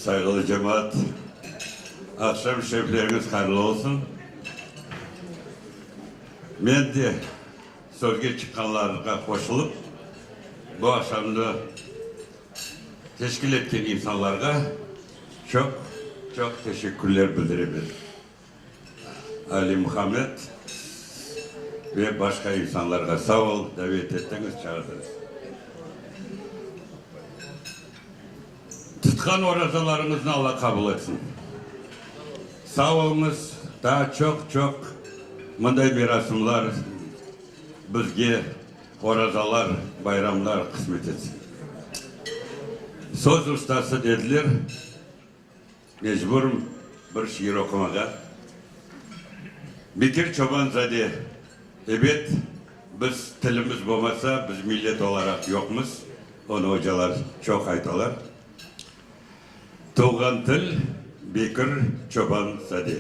Sayğılı cemaat, aqşam şerifleriñiz hayırlı olsun. Men de sözge çıqqanlarğa qoşulıp, bu aqşamnı teşkil etken insanlarğa çoq-çoq teşekkürler bildiremen. Ali Muhammed ve başqa insanlarğa sağ ol, davet ettiñiz, çağırdınız. Tutqan orazalarıñıznı Alla qabul etsin. Sağ oluñız, daa çoq-çoq mınday merasımlar bizge, orazalar, bayramlar qısmet etsin. Söz ustası dediler. Mecburım bir şiir oqumağa. Bekir Çobanzade, Ebet, biz tilimiz bolmasa, biz millet olaraq yoqmız, onı ocalar çoq aytalar. Tuvğan til, Bekir Çobanzade.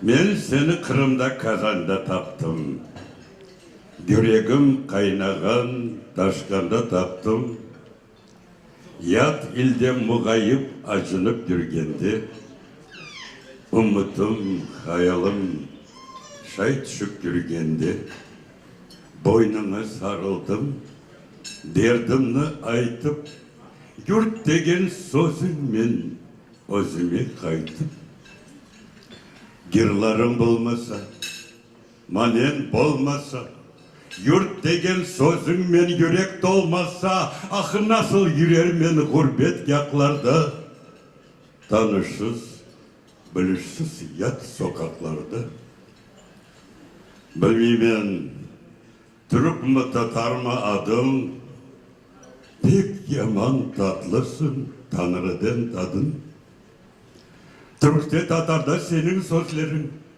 Men seni Qırımda, Kazanda taptım. Yüregim qaynağan, taşqanda taptım. Yat ilde muğayip acınıp yürgende, Ümütim, hayalım şay tüşip yürgende, Boynuna sarıldım, derdimni aytıp, Yurt degen sözün men özüme qaytıp, Gırlarım bolmasa. Manen bolmasa, yurt degen sözüñmen yürek tolmasa, ahı nasıl yürermen ğurbet yaqlarda, tanışsız, bilişsiz yat soqaqlarda? Bilmiymen, türkmi, tatarmı adıñ, pek yaman tatlısıñ, Tañrıden tadıñ. Türkte, tatarda seniñ sözleriñ,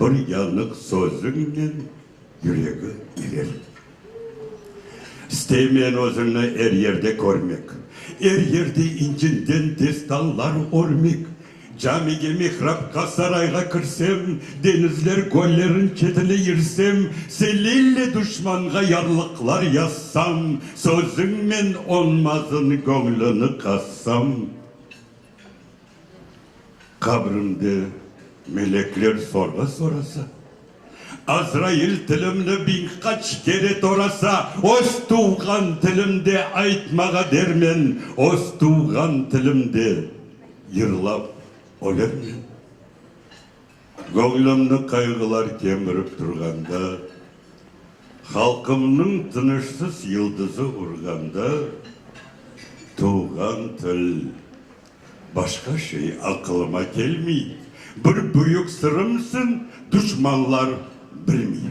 Bir yanıq sözüñnen yüregi erir. İsteymen özüñni er yerde körmek, Er yerde incinden destanlar örmek. Camige, mihrapqa, sarayğa kirsem, Deñizler göllerin çetine irsem, Selille duşmanğa yarlıqlar yazsam, Sözüñmen onmazın göñlüni qazsam. Qabrimde melekler sorğu sorasa, Azrail tilimni biñ qaç kere torasa, öz tuvğan tilimde aytmağa dermen, öz tuvğan tilimde yırlap ölürmen? Göñlümni qayğılar kemirip turğanda, Halqımnıñ tınışsız yıldızı urğanda, Tuvğan til, başqa şey aqılıma kelmey, Bir büyük sırımsıñ, duşmanlar bilmey.